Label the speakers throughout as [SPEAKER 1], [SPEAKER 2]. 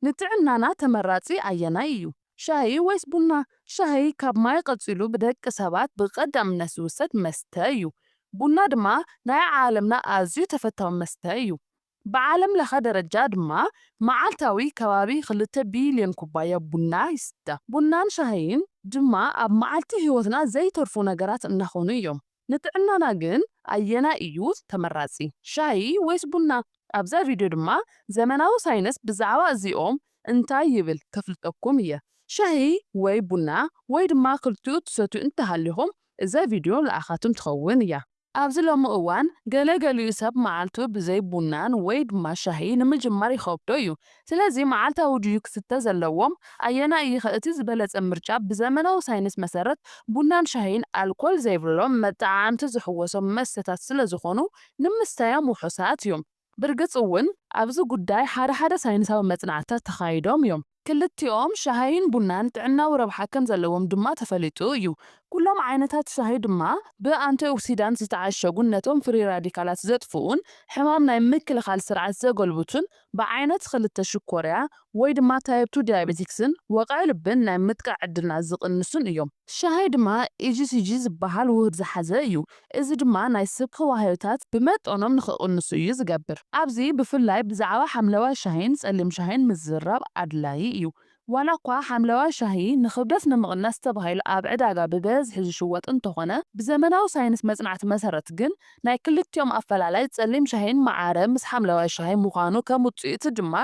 [SPEAKER 1] ንጥዕናና ተመራጺ ኣየናይ እዩ? ሻሂ ወይስ ቡና? ሻሂ ካብ ማይ ቐጺሉ ብደቂ ሰባት ብቐዳምነት ዝውሰድ መስተ እዩ። ቡና ድማ ናይ ዓለምና ኣዝዩ ተፈታዊ መስተ እዩ። ብዓለም ለኸ ደረጃ ድማ መዓልታዊ ከባቢ ክልተ ቢልዮን ኩባያ ቡና ይስተ። ቡናን ሻሂን ድማ ኣብ መዓልቲ ህይወትና ዘይተርፉ ነገራት እናኾኑ እዮም። ንጥዕናና ግን ኣየናይ እዩ ተመራጺ? ሻሂ ወይስ ቡና? ኣብዛ ቪድዮ ድማ ዘመናዊ ሳይንስ ብዛዕባ እዚኦም እንታይ ይብል ከፍልጠኩም እየ። ሻሂ ወይ ቡና ወይ ድማ ክልቲኡ ትሰትዩ እንተሃሊኹም እዛ ቪድዮ ንዓኻትም ትኸውን እያ። ኣብዚ ሎሚ እዋን ገለ ገሊኡ ሰብ መዓልቱ ብዘይ ቡናን ወይ ድማ ሻሂ ንምጅማር ይኸብዶ እዩ። ስለዚ መዓልታዊ ድዩ ክስተ ዘለዎም? ኣየናይ እዩኸ እቲ ዝበለጸ ምርጫ? ብዘመናዊ ሳይንስ መሰረት፣ ቡናን ሻሂን ኣልኮል ዘይብሎም መጠዓዓምቲ ዝሕወሶም መስተታት ስለዝኾኑ ንምስታዮም ውሑሳት እዮም። ብርግጽ እውን ኣብዚ ጉዳይ ሓደ ሓደ ሳይንሳዊ መጽናዕትታት ተኻይዶም እዮም። ክልቲኦም ሻሂን ቡናን ጥዕናዊ ረብሓ ከም ዘለዎም ድማ ተፈሊጡ እዩ። ኩሎም ዓይነታት ሻሂ ድማ ብኣንቲኦክሲዳንት ዝተዓሸጉን ነቶም ፍሪ ራዲካላት ዘጥፍኡን ሕማም ናይ ምክልኻል ስርዓት ዘጎልብቱን ብዓይነት ክልተ ሽኮርያ ወይ ድማ ታይፕ ቱ ዲያቤቲክስን ወቕዒ ልብን ናይ ምጥቃዕ ዕድልና ዝቕንሱን እዮም። ሻሂ ድማ EGCG ዝበሃል ውህድ ዝሓዘ እዩ፣ እዚ ድማ ናይ ስብከ ዋህዮታት ብመጠኖም ንኽቕንሱ እዩ ዝገብር። ኣብዚ ብፍላይ ብዛዕባ ሓምለዋይ ሻሂን ጸሊም ሻሂን ምዝርራብ ኣድላዪ እዩ። ዋላኳ ሓምለዋይ ሻሂ ንኽብደት ንምቕናስ ተባሂሉ ኣብ ዕዳጋ ብበዝሒ ዝሽወጥ እንተኾነ፣ ብዘመናዊ ሳይንስ መጽናዕቲ መሰረት ግን ናይ ክልቲኦም ኣፈላላይ ጸሊም ሻሂን መዓረ ምስ ሓምለዋይ ሻሂ ምዃኑ ከም ውጽኢቱ ድማ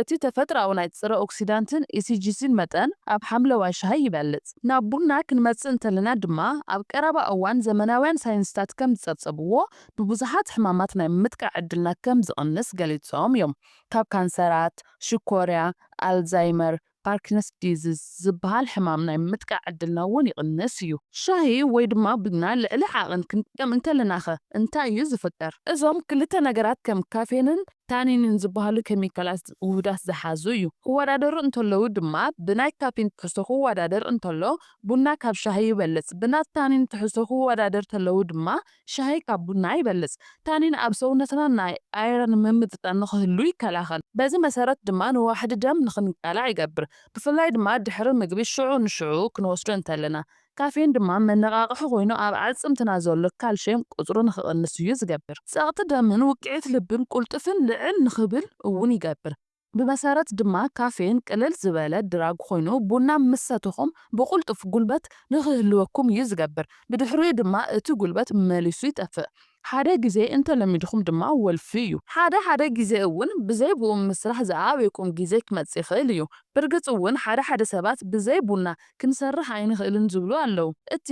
[SPEAKER 1] እቲ ተፈጥሮኣዊ ናይ ጽረ ኦክሲዳንትን ኢሲጂሲን መጠን ኣብ ሓምለዋይ ሻሂ ይበልጽ። ናብ ቡና ክንመጽእ እንተለና ድማ ኣብ ቀረባ እዋን ዘመናውያን ሳይንስታት ከም ዝጸብጸብዎ ንብዙሓት ሕማማት ናይ ምጥቃዕ ዕድልና ከም ዝቕንስ ገሊጾም እዮም ካብ ካንሰራት፣ ሽኮርያ፣ ኣልዛይመር፣ ፓርኪንስ ዲዝዝ ዝበሃል ሕማም ናይ ምጥቃዕ ዕድልና እውን ይቕንስ እዩ። ሻሂ ወይ ድማ ቡና ልዕሊ ዓቕን ክንጥቀም እንከለናኸ እንታይ እዩ ዝፍጠር? እዞም ክልተ ነገራት ከም ካፌንን ታኒንን ዝበሃሉ ኬሚካላት ውሁዳት ዝሓዙ እዩ። ክወዳደሩ እንተለዉ ድማ ብናይ ካፊን ትሕዝቶ ክወዳደር እንተሎ ቡና ካብ ሻሂ ይበልፅ፣ ብናታኒን ትሕዝቶ ክወዳደር ተለዉ ድማ ሻሂ ካብ ቡና ይበልጽ። ታኒን ኣብ ሰውነትና ናይ ኣይረን ምምጥጣን ንኽህሉ ይከላኸል። በዚ መሰረት ድማ ንዋሕዲ ደም ንኽንቃላዕ ይገብር። ብፍላይ ድማ ድሕሪ ምግቢ ሽዑ ንሽዑ ክንወስዶ እንተለና። ካፌን ድማ መነቓቕሒ ኮይኑ ኣብ ኣዕጽምትና ዘሎ ካልሽየም ቁጽሩ ንኽቕንስ እዩ ዝገብር። ጸቕጢ ደምን ውቅዒት ልብን ቁልጥፍን ልዕል ንኽብል እውን ይገብር። ብመሰረት ድማ ካፌን ቅልል ዝበለ ድራግ ኮይኑ ቡና ምስ ሰተኹም ብቕልጡፍ ጉልበት ንኽህልወኩም እዩ ዝገብር፣ ብድሕሪኡ ድማ እቲ ጉልበት መሊሱ ይጠፍእ። ሓደ ግዜ እንተለሚድኩም ድማ ወልፊ እዩ። ሓደ ሓደ ግዜ እውን ብዘይ ብኡ ምስራሕ ዝኣበየኩም ግዜ ክመጽእ ይኽእል እዩ። ብርግጽ እውን ሓደ ሓደ ሰባት ብዘይ ቡና ክንሰርሕ ኣይንኽእልን ዝብሉ ኣለዉ። እቲ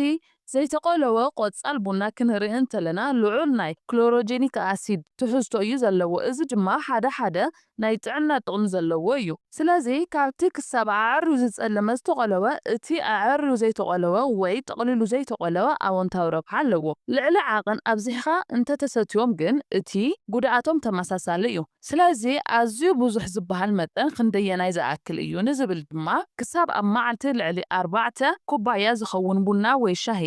[SPEAKER 1] ዘይተቆለወ ቆጻል ቡና ክንርኢ እንተለና ልዑል ናይ ክሎሮጀኒክ ኣሲድ ትሕዝቶ እዩ ዘለዎ፣ እዚ ድማ ሓደ ሓደ ናይ ጥዕና ጥቕሚ ዘለዎ እዩ። ስለዚ ካብቲ ክሳብ ኣዐርዩ ዝጸለመ ዝተቆለወ እቲ ኣዐርዩ ዘይተቆለወ ወይ ጠቕሊሉ ዘይተቆለወ ኣወንታዊ ረብሓ ኣለዎ። ልዕሊ ዓቕን ኣብዚሕኻ እንተተሰትዮም ግን እቲ ጉድኣቶም ተመሳሳሊ እዩ። ስለዚ ኣዝዩ ብዙሕ ዝበሃል መጠን ክንደየናይ ዝኣክል እዩ ንዝብል ድማ ክሳብ ኣብ መዓልቲ ልዕሊ ኣርባዕተ ኩባያ ዝኸውን ቡና ወይ ሻሂ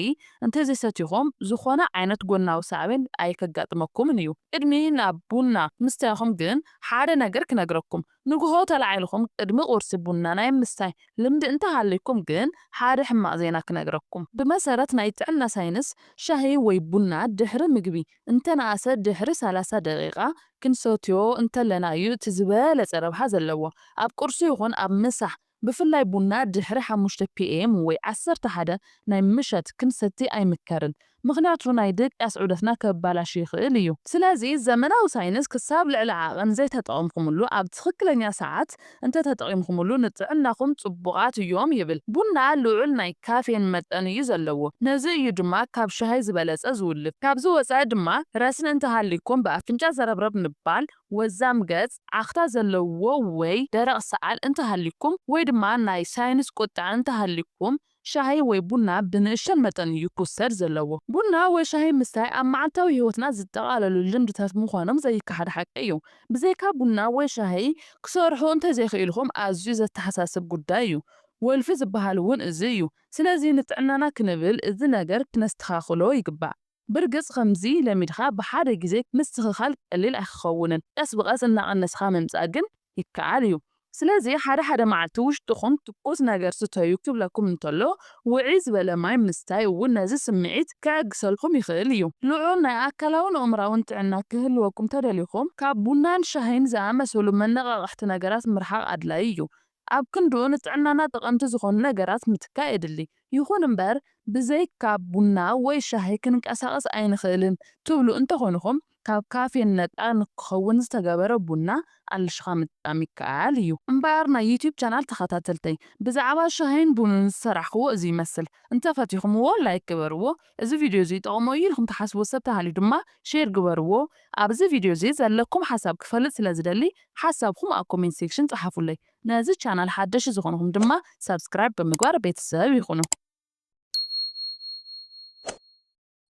[SPEAKER 1] እንተዘይሰቲኹም ዝኾነ ዓይነት ጎናዊ ሳዕቤን ኣይከጋጥመኩምን እዩ። ቅድሚ ናብ ቡና ምስታይኹም ግን ሓደ ነገር ክነግረኩም፣ ንጉሆ ተላዒልኹም ቅድሚ ቁርሲ ቡና ናይ ምስታይ ልምዲ እንተሃልይኩም ግን ሓደ ሕማቕ ዜና ክነግረኩም። ብመሰረት ናይ ጥዕና ሳይንስ ሻሂ ወይ ቡና ድሕሪ ምግቢ እንተነኣሰ ድሕሪ ሰላሳ ደቒቓ ክንሰትዮ እንተለና እዩ እቲ ዝበለጸ ረብሓ ዘለዎ። ኣብ ቁርሲ ይኹን ኣብ ምሳሕ፣ ብፍላይ ቡና ድሕሪ ሓሙሽተ PM ወይ ዓሰርተ ሓደ ናይ ምሸት ክንሰቲ ኣይምከርን፣ ምኽንያቱ ናይ ድቅያስ ዑደትና ከበላሹ ይኽእል እዩ። ስለዚ ዘመናዊ ሳይንስ ክሳብ ልዕሊ ዓቐን ዘይተጠቐምኩምሉ ኣብ ትኽክለኛ ሰዓት፣ እንተተጠቒምኩምሉ ንጥዕናኹም ጽቡቓት እዮም ይብል። ቡና ልዑል ናይ ካፌን መጠን እዩ ዘለዎ፣ ነዚ እዩ ድማ ካብ ሻሂ ዝበለጸ ዝውልፍ። ካብዚ ወጻኢ ድማ ረስኒ እንተሃልዩኩም ብኣፍንጫ ዘረብረብ ምባል፣ ወዛም ገጽ፣ ዓኽታ ዘለዎ ወይ ደረቕ ሰዓል እንተሃልዩኩም ወይ ድማ ናይ ሳይንስ ቁጥዐ እንተሃልዩኩም ሻሂ ወይ ቡና ብንእሽቶን መጠን እዩ ክውሰድ ዘለዎ። ቡና ወይ ሻሂ ምስታይ ኣብ መዓልታዊ ህይወትና ዝጠቓለሉ ልምድታት ምዃኖም ዘይከሓድ ሓቂ እዩ። ብዘይካ ቡና ወይ ሻሂ ክሰርሑ እንተዘይክኢልኩም ኣዝዩ ዘተሓሳስብ ጉዳይ እዩ። ወልፊ ዝበሃል እውን እዚ እዩ። ስለዚ ንጥዕናና ክንብል እዚ ነገር ክነስተኻኽሎ ይግባእ። ብርግጽ ከምዚ ለሚድካ ብሓደ ግዜ ምስትኽኻል ቀሊል ኣይክኸውንን፣ ቀስ ብቐስ እናቐነስካ ምምጻእ ግን ይከኣል እዩ። ስለዚ ሓደ ሓደ መዓልቲ ውሽጥኹም ትኩስ ነገር ስተዩ ክብለኩም እንተሎ፣ ውዕይ ዝበለ ማይ ምስታይ እውን ነዚ ስምዒት ከዕግሰልኩም ይኽእል እዩ። ልዑል ናይ ኣካላውን ኣእምሮኣውን ጥዕና ክህልወኩም ተደሊኹም፣ ካብ ቡናን ሻሂን ዝኣመሰሉ መነቓቕሕቲ ነገራት ምርሓቕ ኣድላዪ እዩ። ኣብ ክንድኡ ንጥዕናና ጠቐምቲ ዝኾኑ ነገራት ምትካእ የድሊ። ይኹን እምበር ብዘይካ ቡና ወይ ሻሂ ክንቀሳቐስ ኣይንኽእልን ትብሉ እንተኾንኹም ካብ ካፌን ነጻ ንክኸውን ዝተገበረ ቡና ኣልሽኻ ምጥቃም ይከኣል እዩ። እምበኣር ናይ ዩቱብ ቻናል ተኸታተልተይ ብዛዕባ ሻሂን ቡንን ዝሰራሕኽዎ እዚ ይመስል። እንተፈቲኹምዎ ላይክ ግበርዎ እዚ ቪድዮ እዚ ይጠቕሞ እዩ ኢልኩም ትሓስብዎ ሰብ ተሃልዩ ድማ ሼር ግበርዎ። ኣብ እዚ ቪድዮ እዚ ዘለኩም ሓሳብ ክፈልጥ ስለ ዝደሊ ሓሳብኩም ኣብ ኮሜንት ሴክሽን ጸሓፉለይ። ነዚ ቻናል ሓደሽቲ ዝኾንኹም ድማ ሳብስክራይብ ብምግባር ቤተሰብ ይኹኑ።